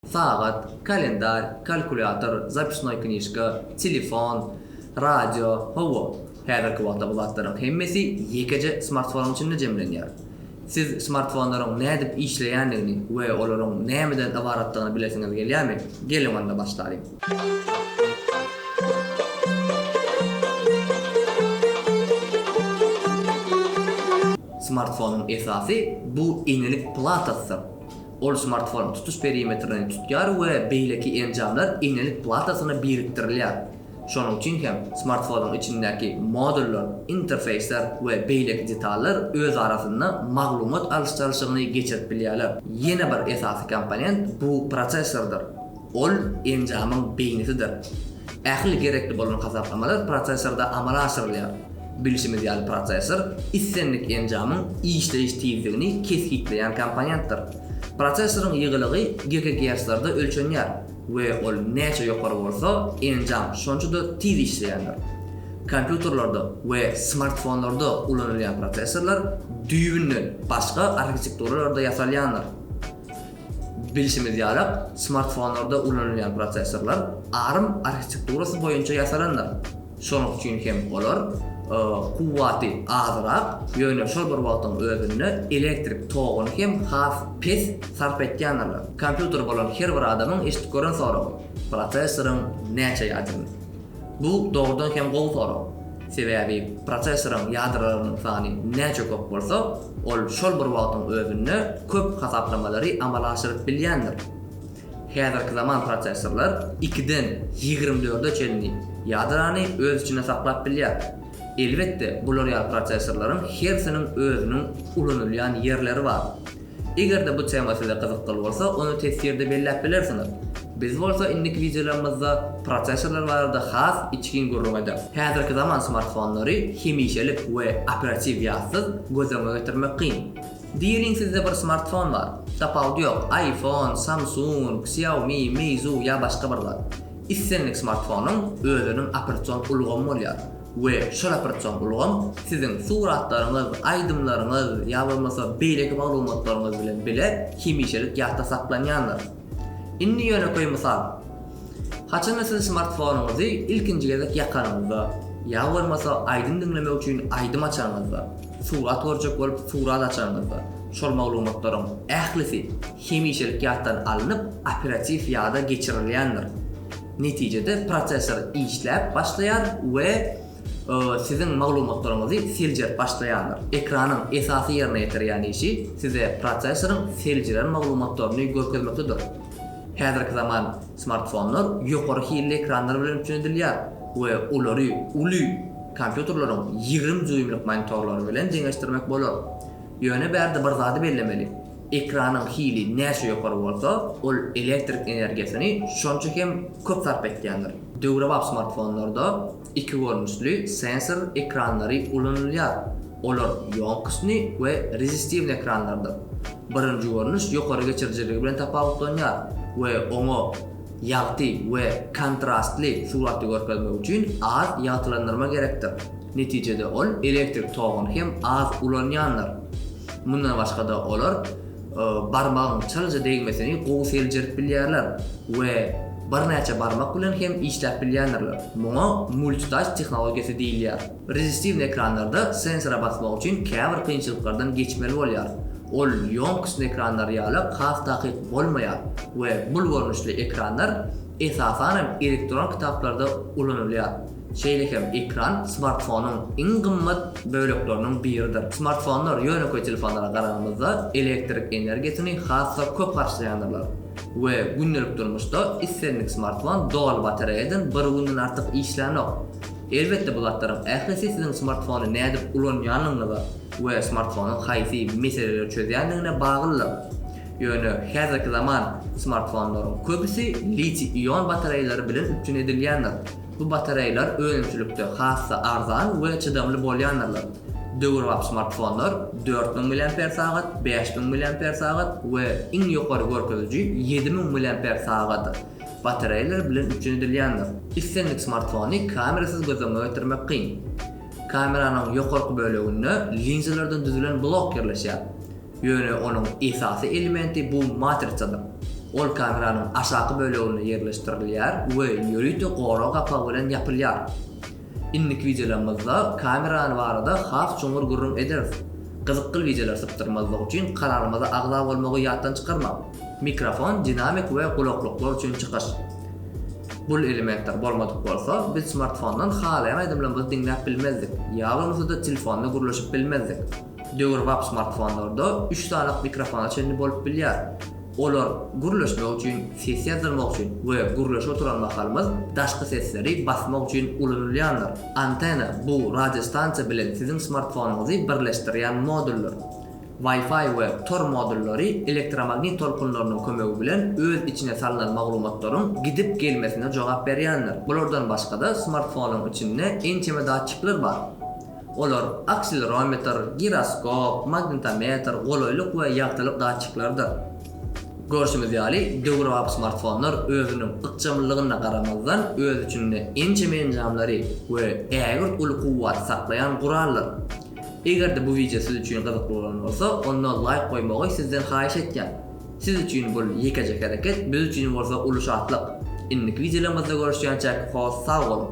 Sagat, kalendarý, kalkulýator, zapisnoý knižka, telefon, radio, hawa, häzirki wagtda bu zatlaryň hemmesi ýekeje smartfonyň içinde jemlenýär. Siz smartfonlaryň nädip işleýändigini we olaryň nämeden ybaratdygyny bilesiňiz gelýärmi? Geliň onda başlalyň. Smartfonyň esasy bu enelik platasydyr. Ol smartfonyň tutuş perimetrini tutýar we beýleki enjamlar eňňelik platasyna birikdirilýär. Şonuň üçin hem smartfonyň içindäki modullar, interfeýsler we beýleki detallar öz arasynda maglumat alyş-çalşygyny geçirip bilýärler. Ýene bir esasy komponent bu prosessordyr. Ol enjamyň beýnisidir. Ähli gerekli bolan hasaplamalar prosessorda amala aşyrylýar. Bilşimiz ýaly prosessor islendik enjamyň işleýiş tizligini kesgitleýän komponentdir. Prosessoryň ýygylygy gigagerslerde ölçenýär we ol näçe ýokary bolsa, enjam şonça-da tiz işleýändir. Kompýuterlerde we smartfonlarda ulanylýan prosessorlar düýbünden başga arhitekturalarda ýasalýandyr. Bilşimiz ýaly, smartfonlarda ulanylýan prosessorlar ARM arhitekturasy boýunça ýasalandyr. Şonuň üçin hem olar kuwwaty azrak, ýöne şol bir wagtyň özünde elektrik toguny hem has pes sarp etýändirler. Kompýuter bolan her bir adamyň eşidip gören soragy, prosessoryň näçe ýadymy? Bu dogrudan hem gowy sorag. Sebäbi prosesoryň ýadralarynyň sany näçe köp bolsa, ol şol bir wagtyň özünde köp hasaplamalary amala aşyryp bilýändir. Häzirki zaman prosesorlar ikiden ýigrimi dörde çenli ýadrany öz içinde saklap bilýär. Elbetde, bular ýaly prosesorlaryň hersiniň özüniň ulanylýan ýerleri bar. Eger-de bu tema size gyzykly bolsa, ony teswirde belläp bilersiňiz. Biz bolsa indiki wideolarymyzda prosessorlar barada has içgin gürrüň ederis. Häzirki zaman smartfonlary hemişelik we operatiw ýazsyz göz öňüne getirmek kyn. Diýeliň sizde bir smartfon bar. Tapawudy ýok, iPhone, Samsung, Xiaomi, Meizu ýa başga bir zat. Islendik smartfonyň özüniň operatsion ulgamy bolýar. we şu raportsoň ulgam siziň suratlaryňyz, aýdymlaryňyz ýa bolmasa beýleki maglumatlaryňyz bilen bile hemişelik ýatda saklanýandyr. Indi ýönekeý mysal. Haçanda siz smartfonyňyzy ilkinji gezek ýakanyňyzda ýa bolmasa aýdym diňlemek üçin aýdym açanyňyzda, surat görjek bolup surat açanyňyzda, şol maglumatlaryň ählisi hemişelik ýatdan alnyp operatiw ýada geçirilýändir. Netijede prosessor işläp başlaýar we siziň maglumatlaryňyzy seljerip başlaýandyr. Ekranyň esasy ýerine ýetirýän işi size prosessoryň seljiren maglumatlaryny görkezmekdedir. Häzirki zaman smartfonlar ýokary hilli ekranlar bilen üpjün edilýär we olary uly kompýuterleriň ýigrimi dýuýmlyk monitorlary bilen deňeşdirmek bolar. Ýöne bärde bir zady bellemeli. Ekranyň hili näçe ýokary bolsa, ol elektrik energiýasyny şonça hem köp sarp etýändir. Döwrebap smartfonlarda iki görnüşli sensor ekranlary ulanylýar. Olar ýonkostny we rezistiwny ekranlardyr. Birinji görnüş ýokary geçirijiligi bilen tapawutlanýar we oňa ýagty we kontrastly suraty görkezmek üçin az ýagtylandyrma gerekdir. Netijede ol elektrik toguny hem az ulanýandyr. Mundan başga-da olar barmagyň çalaja degmesini gowy seljerip bilýärler we birnäçe barmak bilen hem işläp bilýändirler. Muňa multitask tehnologiýasy diýilýär. Rezistiwny ekranlarda sensora basmak üçin käbir kynçylyklardan geçmeli bolýar. Ol ýonkisni ekranlar ýaly has takyk bolmaýar we bul görnüşli ekranlar esasan hem elektron kitaplarda ulanylýar. Şeýle hem ekran smartfonyň iň gymmat bölekleriniň biridir. Smartfonlar ýönekeý telefonlara garagamyzda elektrik energiýasyny has-da köp harçlaýandyrlar we gündelik durmuşda islendik smartfon doly batareýadan bir günden artyk işlänok. Elbetde bu zatlaryň ählisi siziň smartfony nädip ulanýandygyňyza we smartfonyň haýsy meseleleri çözýändigine baglydyr. Ýöne häzirki zaman smartfonlaryň köpüsi litiý-ion batareýalary bilen üpjün edilýändir. Bu batareýalar önümçilikde has-da arzan we çydamly bolýandyrlar. Döwrebap smartfonlar dört müň milliamper sagat, bäş müň milliamper sagat we iň ýokary görkeziji ýedi müň milliamper sagat batareýalary bilen üpjün edilýändir. Islendik smartfony kamerasyz göz öňüne getirmek kyn. Kameranyň ýokarky böleginde linzalardan düzülen blok ýerleşýär. Ýöne onuň esasy elementi bu matrisadyr. Ol kameranyň aşaky böleginde ýerleşdirilýär we ýörite gorag gapagy bilen ýapylýar. Indiki wideolarymyzda kamerany barada has çuňňur gürrüň ederis. Gyzykly wideolar sypdyrmazlyk üçin kanalymyza agza bolmagy ýatdan çykarmaň. Mikrofon, dinamik we gulaklyklar üçin çykyş. Bul elementler bolmadyk bolsa, biz smartfondan halaýan aýdymlarymyzy diňläp bilmezdik, ýa bolmasa-da telefonda gürleşip bilmezdik. Döwrebap smartfonlarda üç sany mikrofona çenli bolup bilýär. Olar gürleşmek üçin, ses ýazdyrmak üçin we gürleşip oturan mahalymyz daşky sesleri basmak üçin ulanylýandyr. Antena, bu radiostansiýa bilen siziň smartfonyňyzy birleşdirýän moduldyr. Wi-Fi we Tor modullary elektromagnit tolkunlarynyň kömegi bilen öz içine salnan maglumatlaryň gidip gelmesine jogap berýändir. Bulardan başgada smartfonyň içinde ençeme datçikler bar. Olar akselerometr, giroskop, magnitometr, golaýlyk we ýagtylyk datçikleridir. Görşümiz ýaly, döwrebap smartfonlar özüniň ykjamlylygyna garamazdan öz içinde ençeme enjamlary we ägirt uly kuwwaty saklaýan gurallar. Eger-de bu wideo siz üçin gyzykly bolan bolsa, onda laýk goýmagy sizden haýyş etýän. Siz üçin bul ýekeje hereket, biz üçin bolsa uly şatlyk. Indiki wideolarymyzda görüşýänçäk hos sag boluň.